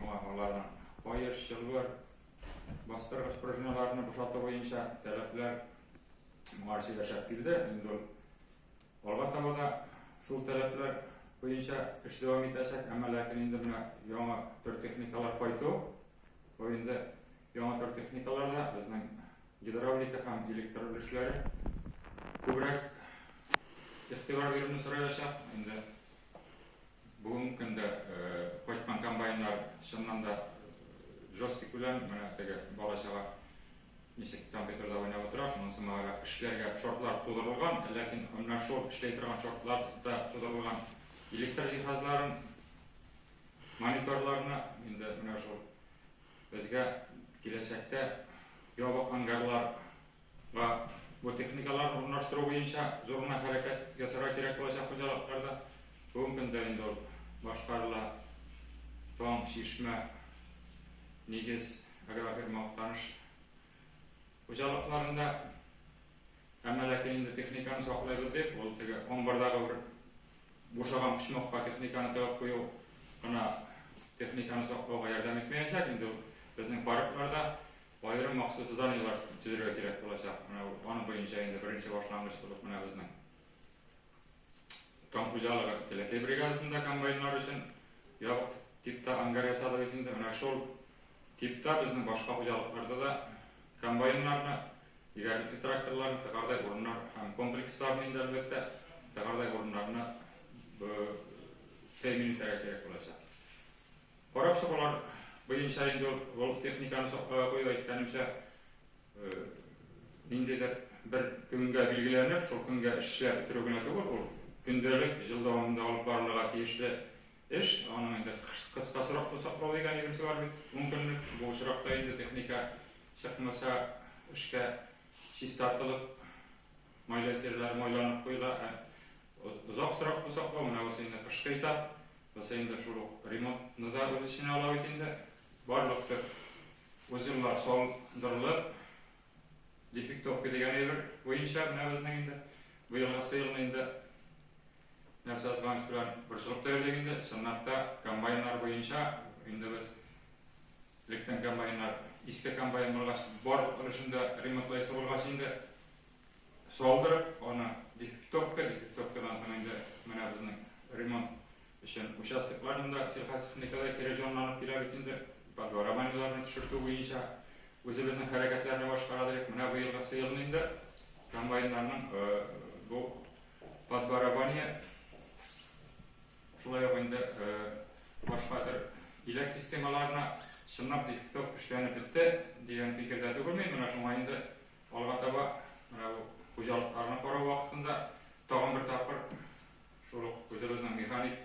Шуңа аларның каеш, чылбыр, бастыргыч пружиналарны бушату буенча таләпләр моңарчы яшәп килде. Инде ул алга таба да шул таләпләр буенча эш дәвам итәчәк, әмма ләкин инде менә яңа төр техникалар кайту, бу инде яңа төр техникалар да безнең гидравлика һәм электр өлешләре күбрәк игътибар бирүне сораячак. Инде Бүгенге көндә кайткан комбайннар чыннан да жесткий күләм, менә теге бала чага ничек компьютерда уйнап утыра, шунысы мага эшләргә шортлар тудырылган, ләкин менә шул эшләй торган шортлар да тудырылган электр җиһазларын, мониторларны, инде менә шул безгә киләчәктә ябык ангарлар Га бу техникалар урнаштыру буенча зур гына хәрәкәт ясарга кирәк булачак хуҗалыкларда. Бүгенге көндә инде ул башкарыла. Таң, Чишмә, Нигез агрофирма Актаныш хуҗалыкларында. Әмма ләкин инде техниканы саклыйбыз дип, ул теге амбардагы бер бушаган почмакка техниканы тыгып кую гына техниканы саклауга ярдәм итмәячәк. Инде ул безнең паркларда Аерым махсус заданиеләр төзергә кирәк булачак. Менә аның буенча инде беренче башлангыч булып менә безнең Кам хуҗалыгы Теләкәй бригадасында комбайннар өчен ябык типта ангар ясады бит инде. Менә шул типта безнең башка хуҗалыкларда да комбайннарны, игәлекле тракторларны, тыгардай урыннар һәм комплексларны инде әлбәттә тыгардай урыннарны тәэмин итәргә кирәк булачак. Карап чыгулар буенча инде ул техниканы сакларга кую, әйткәнемчә, ниндидер бер көнгә билгеләнеп, шул көнгә эшләп бетерү генә түгел, ул көндәлек, ел дәвамында алып барылырга тиешле эш. Аның инде кыска срокта саклау дигән йөгерсә бар бит, ун көнлек. Бу очракта инде техника чыкмаса, эшкә чистартылып, Майлы серләр майланып куела һәм озак срок бу саклау, менә бусы инде кышкы этап, бусы инде шул ук ремонтны да үз эченә ала бит инде. Барлык төп узеллар салындырылып, дефектовка дигән әйбер буенча менә безнең инде быелгысы елны инде Нәфис Азганович белән борчылып та йөрдек инде, чынлап та комбайннар буенча инде без электән комбайннар, иске комбайн булгач, бар өлешен дә ремонтлыйсы булгач инде, салдырып, аны дефектовка, дефектовкадан соң инде менә безнең ремонт өчен участокларны да сельхозтехникада кире җанланып килә бит инде, подворованиеләрне төшертү буенча үзебезнең хәрәкәтләр рәвашкара дирек. Менә быелгысы елны инде комбайннарның бу подворование шулай ук инде башка төр иләк системаларына чынлап дефектов эшләнеп бетте дигән фикердә түгелмен, менә шуңа инде Алга таба менә бу хуҗалыкларны карау вакытында тагын бер тапкыр шул ук үзебезнең механик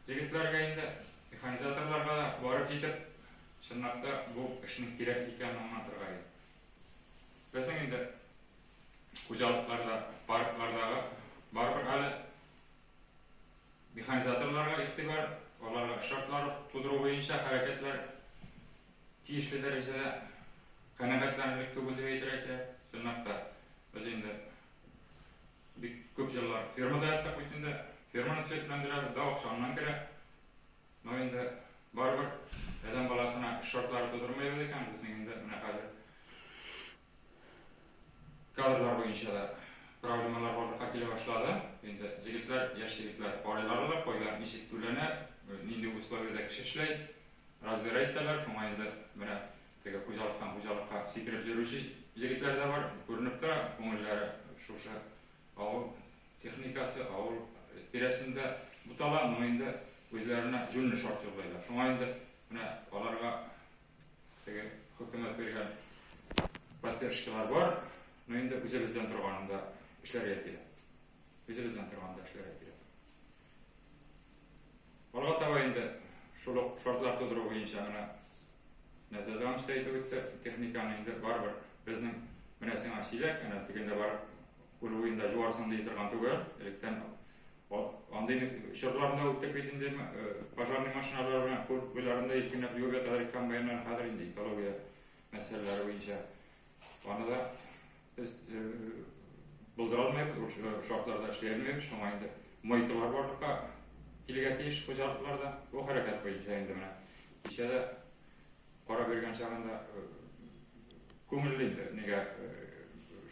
җегетләргә инде, механизаторларга да барып җитеп, чынлап та бу эшнең кирәк икәнен аңлатырга иде. Безнең инде хуҗалыкларда, парклардагы барыбер әле механизаторларга игътибар, аларга шартлар тудыру буенча хәрәкәтләр Тиешле дәрәҗәдә канәгатьләнерлек түгел дип әйтергә кирәк. Чынлап та, без инде бик күп еллар фермада яттык бит инде. Ферманы төзекләндерәбез, дә акча аннан керә. Но инде барыбер адәм баласына эш шартлары тудырмыйбыз икән, безнең инде менә хәзер Кадрлар буенча да проблемалар барлыкка килә башлады. Инде җегетләр, яшь егетләр карыйларлар, кайда ничек түләнә, нинди условиядә кеше эшләй, разбирать итәләр. Шуңа инде менә теге хуҗалыктан хуҗалыкка сикереп йөрүче җегетләр дә бар. Күренеп тора, күңелләре шушы авыл техникасы, авыл тирәсендә бутала. Моны инде үзләренә җүнле шарт юллыйлар. Шуңа инде менә аларга Теге хөкүмәт биргән поддержкалар бар, но инде үзебездән торганда эшләргә кирәк. Үзебездән торганда эшләргә кирәк. Алга таба инде шул ук шартлар тудыру буенча менә нәрсә дәвам итә үтте. Техниканы инде барыбер безнең менә сиңа чиләк, әнә тегендә бар күл буенда җуарсың ди торган түгел. Электән Андый чорлар да үтте бит инде, пожарный машиналар белән кур буйларында иркенләп юып яталар иде комбайннар, хәзер инде экология мәсьәләләре буенча. Аны да без булдыра алмыйбыз, ул шартларда эшли алмыйбыз, шуңа инде мойкалар барлыкка килергә тиеш хуҗалыкларда. Бу хәрәкәт буенча инде менә кичә дә кара биргән чагында күңелле иде, нигә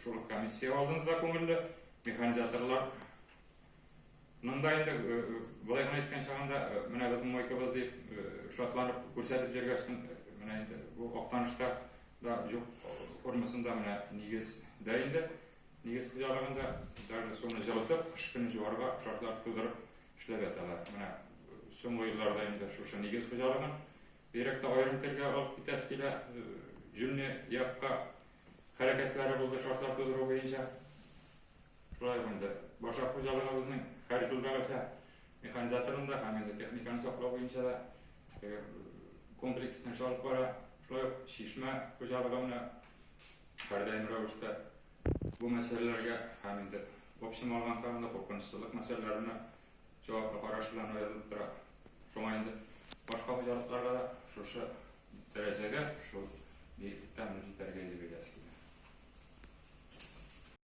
шул комиссия алдында да күңелле, механизаторлар Монда инде, болай гына әйткән чагында, менә безнең Мойкабыз дип, шатланып күрсәтеп йөргәчтен, менә инде бу Актанышта да җук формасында менә нигез дә инде. Нигез хуҗалыгында даже суны җылытып, кыш көне җуарга шартлар тудырып эшләп яталар. Менә соңгы елларда инде шушы нигез хуҗалыгын бигрәк тә аерым телгә алып китәсе килә. Җүнле якка хәрәкәтләре булды шартлар тудыру буенча. Шулай ук инде башак хуҗалыгыбызның һәр елдагыча механизаторын да һәм инде техниканы саклау буенча да комплекслы эш алып бара. Шулай ук Чишмә хуҗалыгы менә һәрдаим рәвештә бу мәсьәләләргә һәм инде общем алганда анда куркынычсызлык мәсьәләләренә җаваплы караш белән аерылып тора. Шуңа инде башка хуҗалыкларга да шушы дәрәҗәгә, шул биеклектә аны җитәргә иде бирәсе килә.